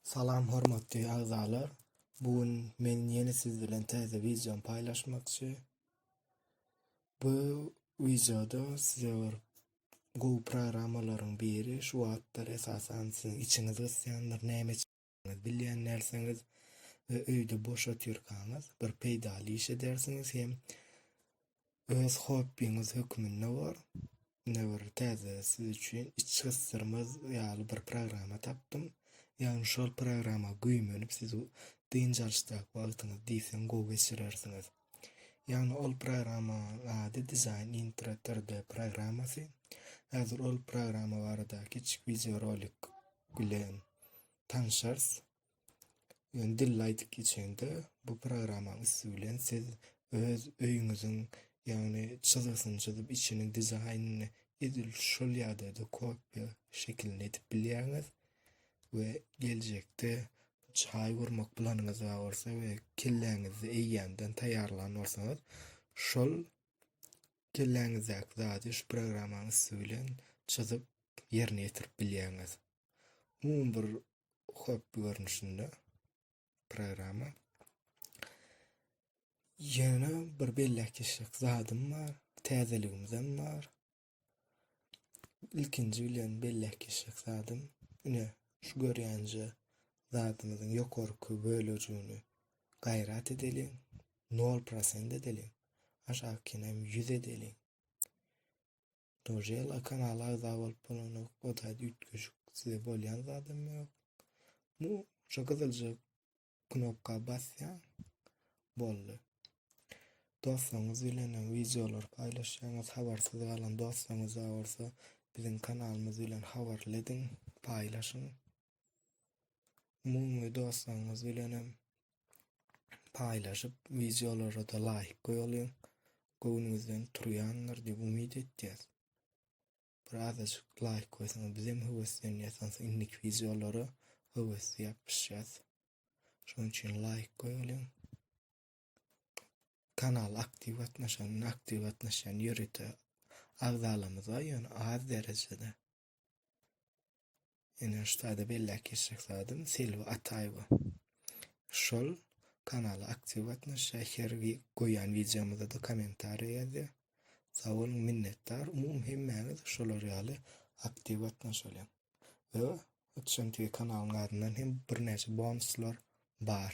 Salam hormatly agzalar. Bu gün men ýene siz bilen täze wideony paýlaşmakçy. Bu wideoda size bir gowy programmalaryň biri şu wagtlar esasan siziň içiňiz gysýandyr näme etjekdigiňizi bilýän dälsiňiz we öýde boş otyrkaňyz bir peýdaly iş edersiňiz hem öz hobbiňiz hökmünde bor ine bir täze siz üçin iç gysdyrmaz ýaly bir programma tapdym ýagny şol programma güýmenip siz dynç alyşdaky wagtyňyzy diýseň gowy geçirersiňiz Ýagny ol programmanyň ady Design Intro 3D programmasy. Häzir ol programma barada kiçik wideorolik bilen tanşarys. Ýöne dille aýdyp geçende bu programmanyň üsti bilen siz öz öýüňiziň ýagny çyzgysyny çyzyp içini dizaýnyny edil şol ýagdaýda kopýa şekilini edip bilýäňiz. we geljekde çaý gurmak planyňyz bar bolsa we kelläňizde eýýämden taýýarlan bolsaňyz, şol kelläňizdäki zady şu programmanyň üsti bilen çyzyp ýerine ýetirip bilýäňiz. Umumy bir hobby görnüşinde programma. Ýöne bir belläp geçjek zadym bar, täzeligimizem bar. Ilkinji bilen belläp geçjek zadym, ine, şu görýänje zadymyzyň ýokarky bölejigini gaýrat edeliň, nol prosent edeliň, aşakynam ýüz edeliň. Dojela kanala agza bolup bolanok, o zat üýtgeşik size bolýan zadam ýok. Bu şu gyzylja knopka basýaň boldy. Dostuňyz bilen wideolar paýlaşýaňyz, habarsyz galan dostuňyz bar bolsa biziň kanalymyz bilen habarly ediň, paýlaşyň. Umumy dostuňyz bilen hem paýlaşyp wideolara da laýk goýalyň. Göwnüňizden turýandyr diýip umyt etýäs. Biraz açyk laýk goýsaňyz bizem höweslenýäs hansı indik wideolara höwesli ýapyşýas. Şonuň üçin laýk goýulyň. Kanal aktiw gatnaşan, aktiw gatnaşan ýörite agzalarymyz bar, ýöne az derejede. Ýöne ştada belläp geçjek zadym Selbi Ataýewa. Şol kanala aktiw gatnaşýar, her wi goýýan wideomyza-da kommentariýa ýazýar. Sag boluň, minnetdar. Umumy hemmäňiz şolar ýaly aktiw gatnaşalyň. We Itjan TV kanalynyň adyndan hem birnäçe bonuslar bar.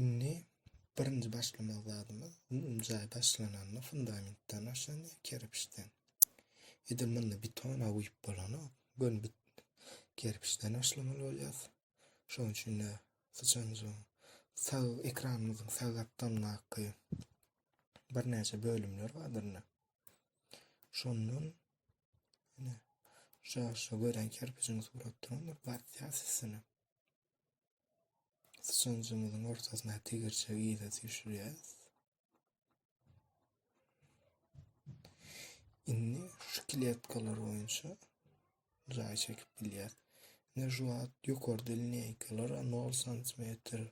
Indi birinji başlamak zadymyz bu jaý başlananda fundamentden başlandy kerpiçden. Edil munda beton awyp bolana gön bit kerpiçden başlamaly bolýar. Şonuň üçin de syçanjyň sag ekranymyzyň sag gapdalyndaky birnäçe bölümler bardyr. Şondan ine şu şu gören kerpijiň suratdyr batýar sesine. Sıçanjymyzyň ortasyna tegirçe ýyla düşürýäs. Indi şu kletkalar boýunça jaý çekip bilýär. Ne juat ýokarda linýaýkalara 0 santimetr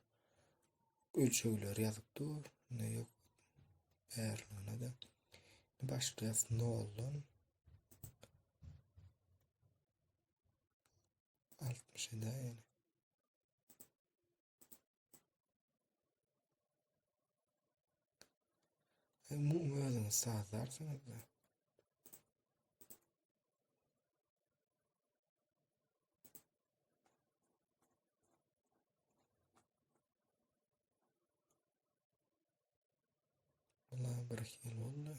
ölçegler ýazyp dur. Ne ýok. Bärligine de. Başlaýas 0-dan. 60-da ýaly. Muň özüňi sazlarsyňyz da. Allah bir hil oldu.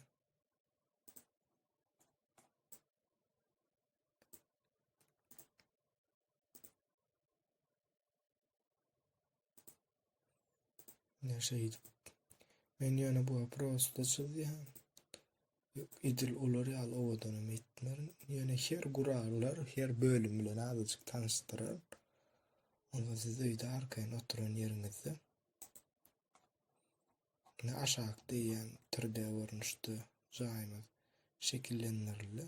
Ne şeydi? Men yani bu prosta çizýän. Edil olar ýaly owadanam etmerin. Yani her gurallar, her bölüm bilen azajyk tanışdyryn. Onda siz öýde arkaýyn oturan ýeriňizde ne aşak diýýän 3D görnüşde jaýymyz şekillendirildi.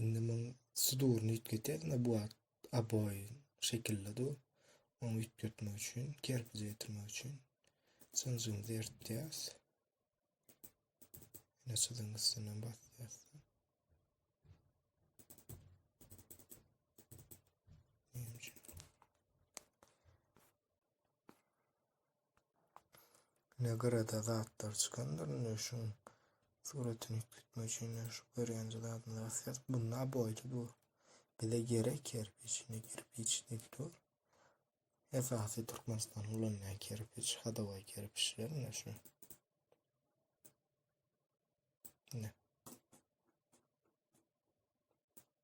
Indi muň suduryny üýtgetýäs, ne bu wagt oboe şekilli dur. Onu üýtgetmek üçin, kerpije getirmek üçin çynjymyzy eritýäs. Ýene çyzygyň üstünden basýas. Ne gyrada zatlar çykandyr indi şuň suratyny tutmak üçin şu görýänje zadyny asýas bunda boýda dur. Bize gerek kerpiç indi kerpiç deki dur. Esasy Türkmenistan ulanýan kerpiç hadawaý kerpiçler indi şu. Ne.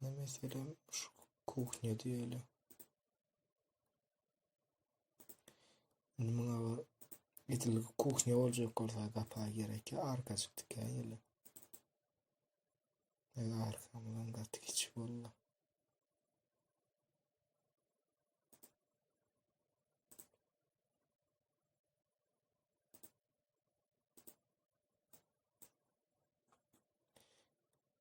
Ne mesele şu kuhnya diýeli. Indi muňa bir edil kuhnya boljak bolsa gapa gerek ya arkajyk dikäýeli. Ýa arkamdan gaty kiçik boldy.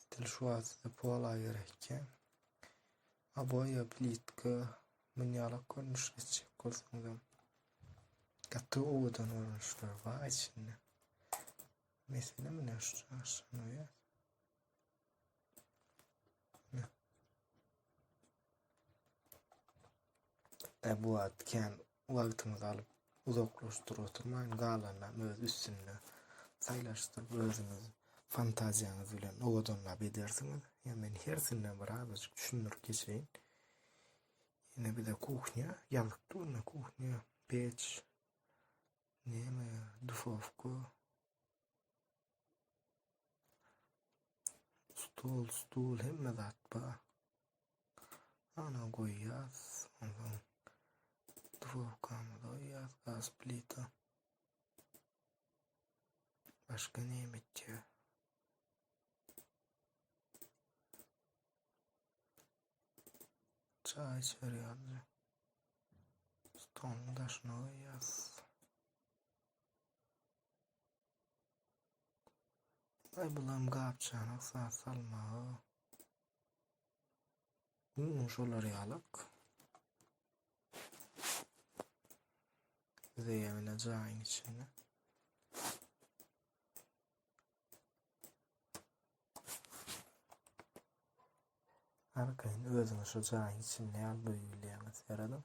Edil şu wagtda pola gerekýär. Aboýa, plitka, munýalak görnüş geçjek bolsaňyzam gaty owadan görnüşler bar içinde. Mesele mine şu çarşanoýa. Ebu Atken Wagtyňyzy alyp, uzaklaşdyr oturmaň, galanynam öz üstünde saýlaşdyryp, özüňiz fantaziýaňyz bilen owadanlap edersiňiz. Ýa men hersinden bir azajyk düşündirip geçeýin. Ine bize kuhnya ýazyk durna kuhnya, peç, neme, dufowka, Stol, stul, hemme zat bar. Ana goýýas. Ondan dwowkamy goýýas, gaz plita. Başga näme etýär? Çaý içerýärdi. Stoluň daşyna goýýas. Aý bulam gapjana sa salmaga Güm şolar ýalak. Bize ýagna jaýyň içinde. Arkaýyn özüňi şu jaýyň içinde ýaly duýup bilýäňiz, ýaradam.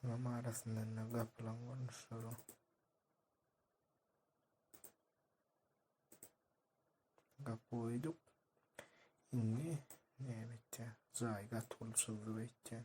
Tamam arasyndan da gapylan görnüşleri. Gap koyduk. Şimdi ne bitti? Zay gat buluşuldu bitti.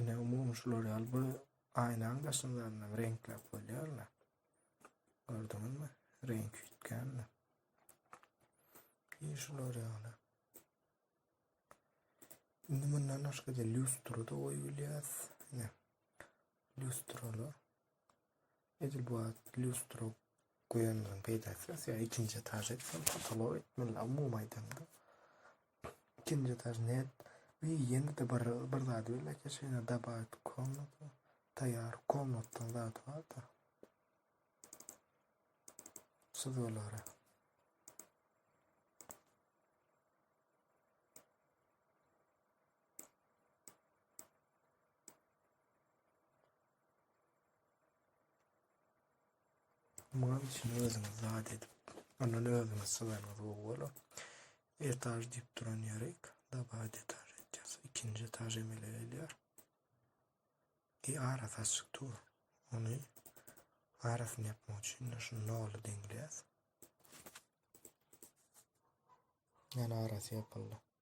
Ine, umumy şular ýaly bu aýnaň daşyndan reňkläp bolýar-la. Gördüňizmi? Reňk üýtgänmi? Ýe şular ýaly. Indi mundan başga-da lýustra-da goýup bilýäs. Ine, lýustraly. Edil bu wagt lýustra goýanlaryň peýdasy ýas ýa ikinji etaž etseň potolok etmeli umumy aýdanda. Ikinji etaž net we ýene-de bir bir zady bil eke şeýle dabawit komnata taýýar komnatdan zat barda. Çyzgylara. Muňam içini özüňiz zat edip, ondan özüňiz syzanyňyz gowy bolar. Etaž diýip duran ýerik, dabat etaž edýäs. Ikinji etaž emele gelýär. E arasy açyk dur. Ony arasyny ýapmak üçin şu noly deňleýäs. Ýani arasy ýapyldy.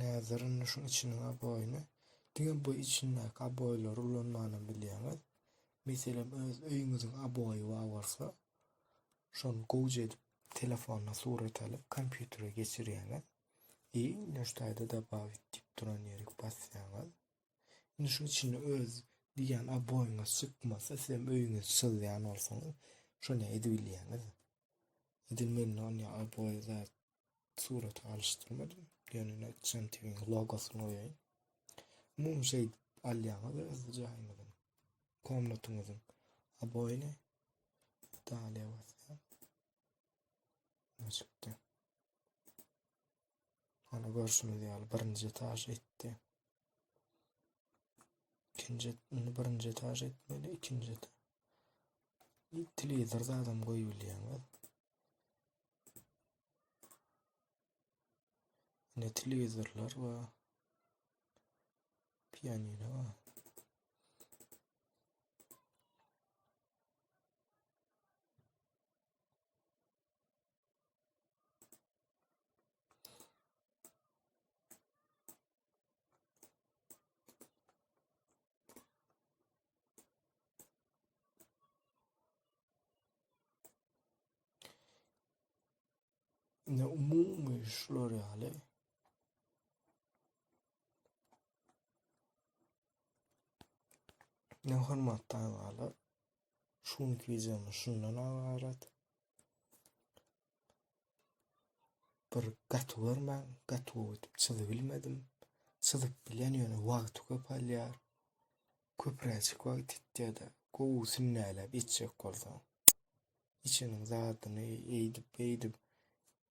Näzirin şuň içiniň aboýuny diňe bu içindäki aboýlary ulanmany bilýäňiz. Meselem, öz öýüňiziň aboýy bar bolsa, şony gowja edip telefona surat alyp kompýutere geçirýäňiz. I nöştaýda dobawit diýip duran ýerik basýaňyz. Indi şu içinde öz diýýän oboýyňyz çykmasa, sizem öýüňe sygýan bolsaňyz, şonda edibilýäňiz. Edil mende onda oboý zat surata alyşdyrmadym. Ýöne nätjegem tebiň logosyny goýaýyn. Umumy şeý alýaňyz öz jaýyňyzyň, komnatyňyzyň oboýyny. Dalýa basýan. Açykda. Hany görşümiz ýaly birinji etaž etdi. İkinci, indi birinji etaž etmeli, ikinci etaž. Bir televizor zadam koyup bilýäňiz. Ne televizorlar ve piyanino var. Ne umumy şular ýaly. Ne hormatly agalar. Şu günki videomuz şundan abarat. Bir gaty görmän, gaty ötüp çyzyp bilmedim. Çyzyp bilen ýöne wagty köp alýar. Köpräçik wagt etýär-de, gowy sünnäläp etjek bolsaň. Içiniň zadyny eýdip, beýdip,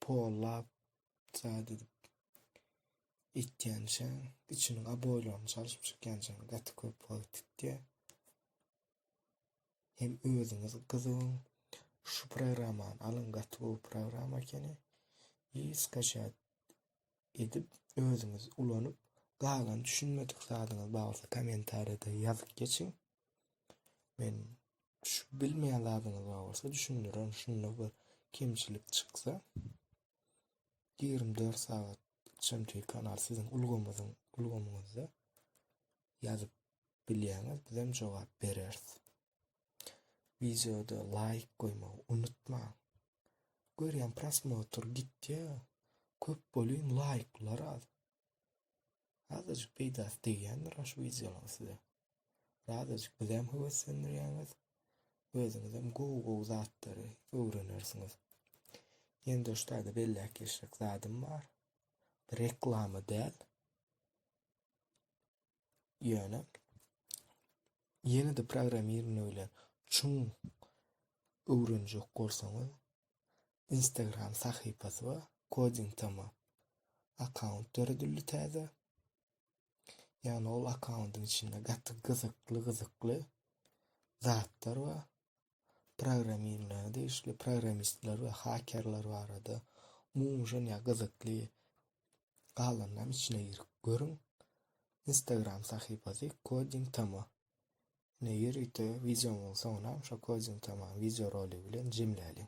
pollap, zat edip etýänçäň, içiniň aboýlaryny çalşyp çykýançaň gaty köp wagt etýär. Hem özüňiz gyzygyň. Şu programmany alyň, gaty gowy programma ekeni. Hiç kaşat edip özüňiz ulanyp galan düşünmedik zadyňyz barsa kommentariýada ýazyp geçiň. Men şu bilmeýän zadyňyz bar bolsa düşündirin. Şunda bir kemçilik çyksa 24 sagat Çemtüy kanal sizin ulgamyzyň ulgamyňyzda ýazyp bilýäňiz bizem jogap bereris. Wideoda laýk goýmagy unutmaň. Görýän prosmotr gitýä. Köp bolyň laýklar az. Azajyk peýdasy degýändir şu wideolaryň size. Azajyk bizem höweslendirýäňiz. Özüňizem gowy-gowy zatlary öwrenersiňiz. Ýene doşlarda belläp geçjek zadym bar. Reklama däl. Ýöne ýene-de programmirowne bilen çuň öwrenjek bolsaňyz, Instagram sahypasy bar, Coding Tama akkaunt döredildi täze. Ýagny ol akkauntyň içinde gaty gyzykly-gyzykly zatlar bar. programmirleme degişli programmistler we hakerler barada umuman ya gyzykly galanlam içine girip görüň. Instagram sahypasy Coding Tama. Ne ýörite wideom bolsa onam şu Coding Tama wideo roly bilen jemläliň.